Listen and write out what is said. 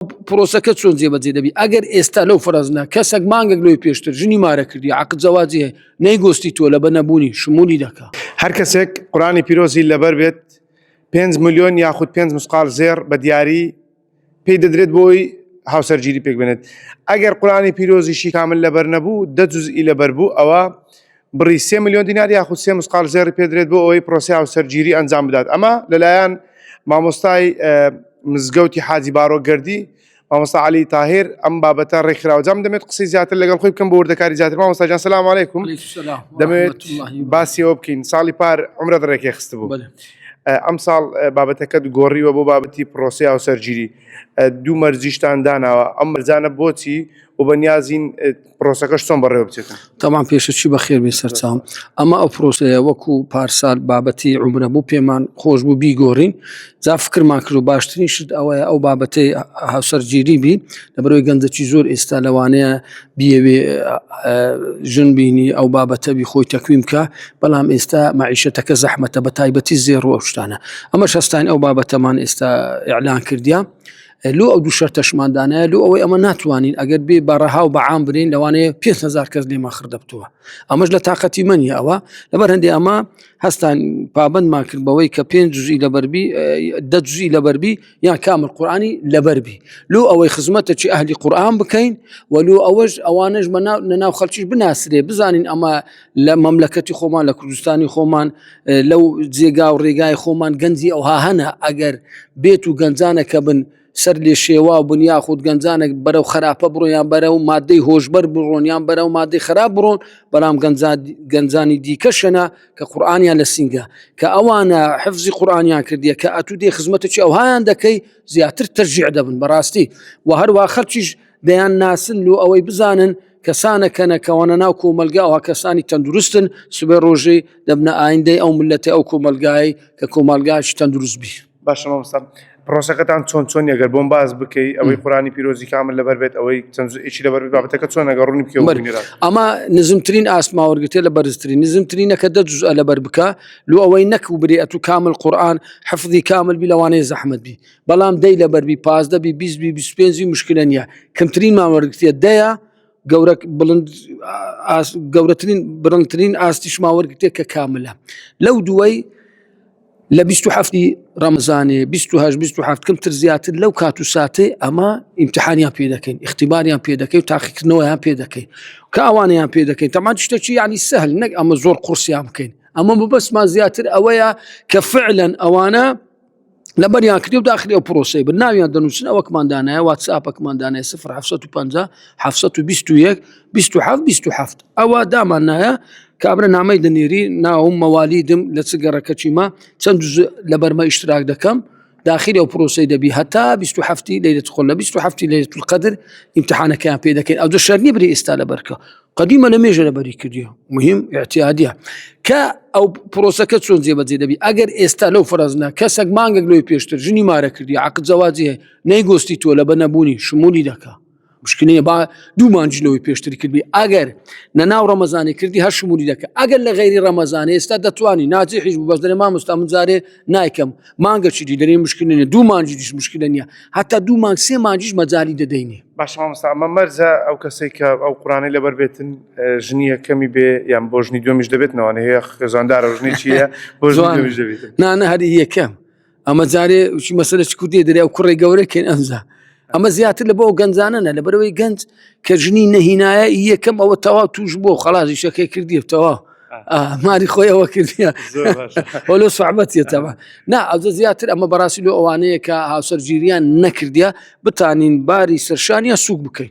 پرۆسەکە چۆن جێبەجێ دەبی ئەگەر ئێستا لەو فەرزنا کەسێک مانگێک لەوەی پێشتر ژنی مارە کردی عقد زەواجی هەیە نەیگۆستی تۆ لە بە نەبوونی شمولی دەکا هەر کەسێک قورانی پیرۆزی لەبەر بێت 5 ملیۆن یاخود 5 مسقال زێر بە دیاری پێی دەدرێت بۆی هاوسەرگیری پێک بێنێت ئەگەر قورانی پیرۆزیشی کامل لەبەر نەبوو دە جزئی لەبەر بوو ئەوە بڕی سێ ملیۆن دینار یاخود سێ مسقال زێڕی پێدرێت بۆ ئەوەی پرۆسیا و سەرگیری ئەنجام بدات ئەمە لەلایەن مامۆستای مزگەوتی حاجی بارۆ گردی مامۆستا علی تاهر ئەم بابەتە ڕێکخراوە جام دەمێت قسەی زیاتر لەگەڵ خۆی بکەم بۆ وردەکاری زیاتر مامۆستاجان سلام علیکم دەمێت باسیەوە بکەین ساڵی پار عمرە ڕێکی خست بوو ئەم ساڵ بابەتەکەت گۆڕیوە بۆ بابەتی پرۆسیا و سەرگیری دوو مەرجیشتان داناوە ئەم مەرجانە بۆچی و بەنیازین پرۆسەکەش چۆن بەڕێوە بچێتە تەمان پێشەچی بە خێربی سەرچاو ئەمە ئەو پرۆسەیە وەکو پارسال بابەتی عمرە بوو پێمان خۆش بوو بیگۆڕین جا فکرمان کرد و باشترین شت ئەوەیە ئەو بابەتی هاوسەرگیری بی لەبەرەوەی گەندەکی زۆر ئێستا لەوانەیە بیەوێ ژن بینی ئەو بابەتەبی خۆی تەکویم بکە بەڵام ئێستا معیشەتەکە زەحمەتە بە تایبەتی زێڕ و ئەو شتانە ئەمە شەستان ئەو بابەتەمان ئێستا ئەلان کردیا لۆ ئەو دوو شەرتەشمان دانایە لۆ ئەوەی ئەمە ناتوانین ئەگەر بێ بەڕەها و بەعام برین لەوانەیە پێ هزار کەس لێمە خردەبتووە ئەمەش لە تااقەتی منی ئەوە لەبەر هەندێ ئەمە هەستان پابندمان کرد بەوەی کە پێنج جوزی لەبەربی دەجوزی لەبەربی یان کامل قورآانی لەبەربی لۆ ئەوەی خزمەتە چی ئەهلی قورآان بکەین وەلو ئەوەش ئەوانش بە ناو خەلکیش بناسرێ بزانین ئەمە لە مەملەکەتی خۆمان لە کوردستانی خۆمان لەو جێگا و ڕێگای خۆمان گەنجی ئەوها هەنە ئەگەر بێت و گەنجانە کە بن سەر لێ شێوا بن یا خودود گەنجانێک بەرەو خراپە بڕۆیان بەرە و مادەی هۆشبەر بڕۆنیان بەرە و مادەی خراپ بڕۆن بەڵام گەنجانی دیکەشەنە کە قورآانیان لە سینگە کە ئەوانە حفزی قورآانیان کردیە کە ئەتو دێ خزمەتەکی ئەوهایان دەکەی زیاتر تەرجیع دەبن بەڕاستی و هەروە خەرچیش دەیان ناسن لۆ ئەوەی بزانن کەسانە کەنەکەوانە ناو کۆمەلگاوە کەسانی تەندروستن سبێ ڕۆژی دەبنە ئایندەی ئەو ملەتی ئەو کۆمەلگای کە کۆمەلگاش تەندروست بی باشمەستا پرۆسەکەتان چۆن چۆن یەگەر بۆم باز بکەی ئەوەی قورانی پیرۆزی کامل لەبەر بێت ئەوەی چەندئشی لەبەر بابەتەکە چۆن نەگەڕونی بکە ئەما نزمترین ئاسماوەرگتێ لە بەرزترین نزمترینەکە دە جز لەبەر بکە لو ئەوەی نەک و برێت و کامل قورآان حەفزی کامل بی لەوانەیە زەحمت بی بەڵام دەی لە بەربی پازدە بی بیست بی بیست پێنجی مشکلە نییە کەمترین ماوەرگتیە دەیە گەورە بڵند گەورەترین بڕنگترین ئاستی شماوەرگتێک کە کاملە لەو دوای لە 27 ڕەمزانێ 28 کەمتر زیاتر لەو کات و ساتێ ئەمە ئیمتحانیان پێ دەکەین اختیباریان پێ دەکەین تاقیکردنەوەیان پێ دەکەین کە ئەوانیان پێ دەکەین تەمان شتێکی ینی سەهل نەک ئەمە زۆر قورسیان بکەین ئەمە بەسمان زیاتر ئەوەیە کە فعلەن ئەوانە لەبەریان کردی و داخلی ئەو پرۆسی بن ناویان دەنووسن ئەوەکمان دانایە واتساپەکمان دانێ 1950 ئەوە دامان نایە کابرا نامەی دەنێری ناوم مەوالیدم لە چ گەڕەکەچیمە چەند لە بەرمە ئیشتراک دەکەم داخل ئەو پرۆسی دەبی هەتا 1970 لە 1970 لە قدر امتحانەکەیان پێ دەکەین ئەو دو شەرنی بری ئێستا لە بەرکە قدیمە لە مێژە لەبەری کردیە مهم اعتیادە کە ئەو پرۆسەکە چۆن جێبەجێ دەبی ئەگەر ئێستا لەو فرەزنە کەسەک مانگەک لۆی پێشتر ژنی مارە کردی عقد زەواجێ نەیگۆستی تۆ لە بە نەبوونی شمولی دەکە مشکنەیە با دوو مانجلەوەی پێشتر کردی ئەگەر نە ناو ڕەمەزانی کردی هەر شمولی دەکە ئەگەر لە غیری ڕەمەزانانی ئێستا دەتوانی ناجی حیز بەس دەێ مامۆستا من جارێ نایکەم مانگەچی دی دەێ مشکنێ دوو مانجی دیش مشکلە نیە هەتا دوو مانگ سێ مانجیش مەجای دەدەینێ باش مامۆستا ئەمە مەرجە ئەو کەسێک کە ئەو قورانەی لەبەر بێتن ژنی یەکەمی بێ یان بۆ ژنی دومیش دەبێت نەوانێ هەیە خێزاندارە ژنی چیە بۆ ژنی دومیش دەبێت نانە هەر یەکەم ئەمە جارێ چی مەسەلە چ کوردی دەریا و کوڕی گەورەکەین ئەمزا ئەمە زیاتر لە بۆ گەنجانە نە لەبەرەوەی گەنج کە ژنی نەهینایە یەکەم ئەوە تەوا توش بۆ خەڵازی شەکەی کردی تەوا ماری خۆی ئەوە کردە هۆلۆ سوعبەتەوە نا ئەزە زیاتر ئەمە بەڕاستی لۆ ئەوانەیە کە هاوسەرگیریان نەکردە بتانین باری سەرشانیان سوک بکەین.